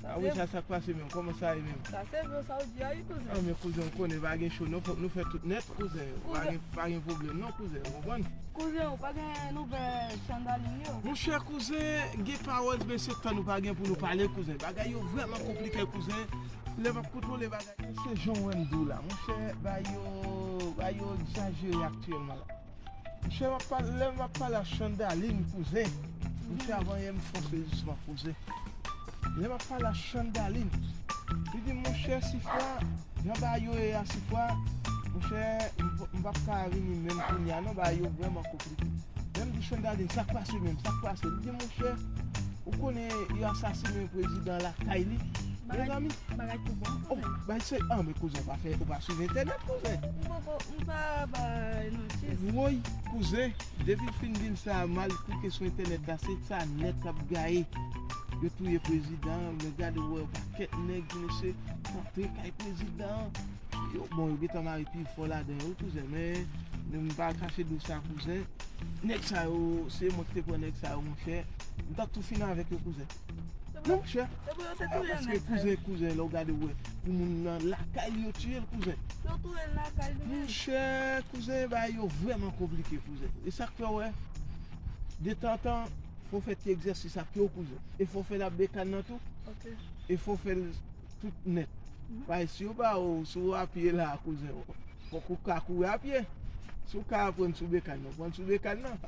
Sa wi sa sak pase menm koman sa ye menm. Sa se vre sa ou di a wi kouzen. An men kouzen ou konnen pa gen cho non fok nou fè tout nèt kouzen pa gen pwoblèm non kouzen ou konprann. Kouzen ou pa gen nouvè chandaline yo. Monchè kouzen gen pawòl men se tan nou pa gen pou nou pale kouzen bagay yo vrèman konplike kouzen lè map kontwole bagay yo se jan ou wèm diw la monchè bagay yo bagay yo egzajere aktyèlman la. Misye map pale lèl map pale a chandaline kouzen misye a vanyem fòse jisman kouzen lèl map pale a chandaline li dim monchè sifra jan bagay yo ye a sifra monchè m pap ka vini menm kounya non bagay yo vrèman konplike lèm di chandaline sak pase menm sak pase li dim monchè ou konnen yo asasine prezidan lakay li mezanmi oh bagay se anmwey kouzen ou pa swiv entènèt kouzen. Pou sa bay nan chis. Woy kouzen depil fin dim sa mal klike sou entènèt la se sa nèt lap gaye yo touye prezidan an men gade wè yon pakèt nèg di mesye antre kay prezidan an yo bon yo gentan mare pi fò ladan yo wi kouzen men nou m pa kache diw sa kouzen nèg sa yo se mwen ki te pran nèg sa yo monchè m ta tou fini avèk yo kouzen. Nan chè. Epi yo te touyel nan kay. Kouzen kouzen lè ou gade ou wè pou moun nan lakay li yo tiyel kouzen. Yo touyel nan kay li menm. Nan chè kouzen bagay yo vreman konplike kouzen. E sak fè ou wè detantan fò fè ti egzèsis ak yo kouzen. E fò fè la bekàn nan tou. Ok. E fò fèl. tout nèt. Paske si yo ba ou, si ou a pye la a kouzen, fòk ou ka kouri a pye. Si ou ka aprann sou bekàn nan, prann sou bekàn nan.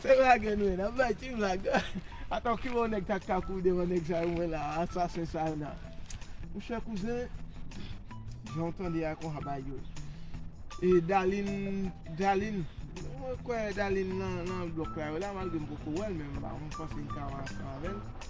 Se blag nou ye, n ap bay ti blag. Atò ki bon nèg ta ka kouri devan nèg sa yo mwen la a, asasen sa yo nan. Monchè kouzen, jan ou tande a konsa ba yo. E Dalin, Dalin, mwen kwè Dalin nan blòk la yo la malgre m poko wè l men mwen panse m ka ansanm avè l.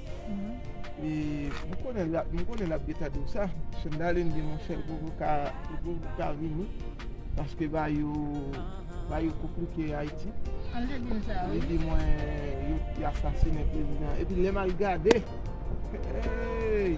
E mwen konnen lap, mwen konnen lap geta diw sa. Chandalen di mon chèl pou ka, pou ka vini. Paske ba yo, ba yo konplike Ayiti. An li te dim sa wi. Li di mwen yo asasine prezidan. Epi lè mal gade. Hey!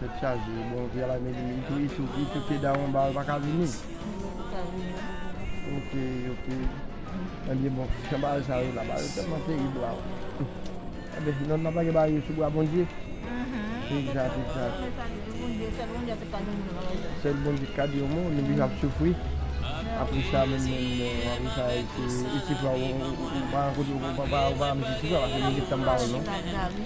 Tèt chaje bon via la mèt li tou itou itou pye dawon ba yo paka vini ok ok ebyen bon jan ba yo sa yo la ba yo tèlman terib la ebyen si nou nan pa gen ba yo sou bra bondye egzat egzat sèl bondye ki ka di yon mo nou vin ap soufri apre sa menm menm apre sa isi fwa ou pa rankontre ou pa ou pa rankontre isi fwa paske nou gen tanm ba yo non.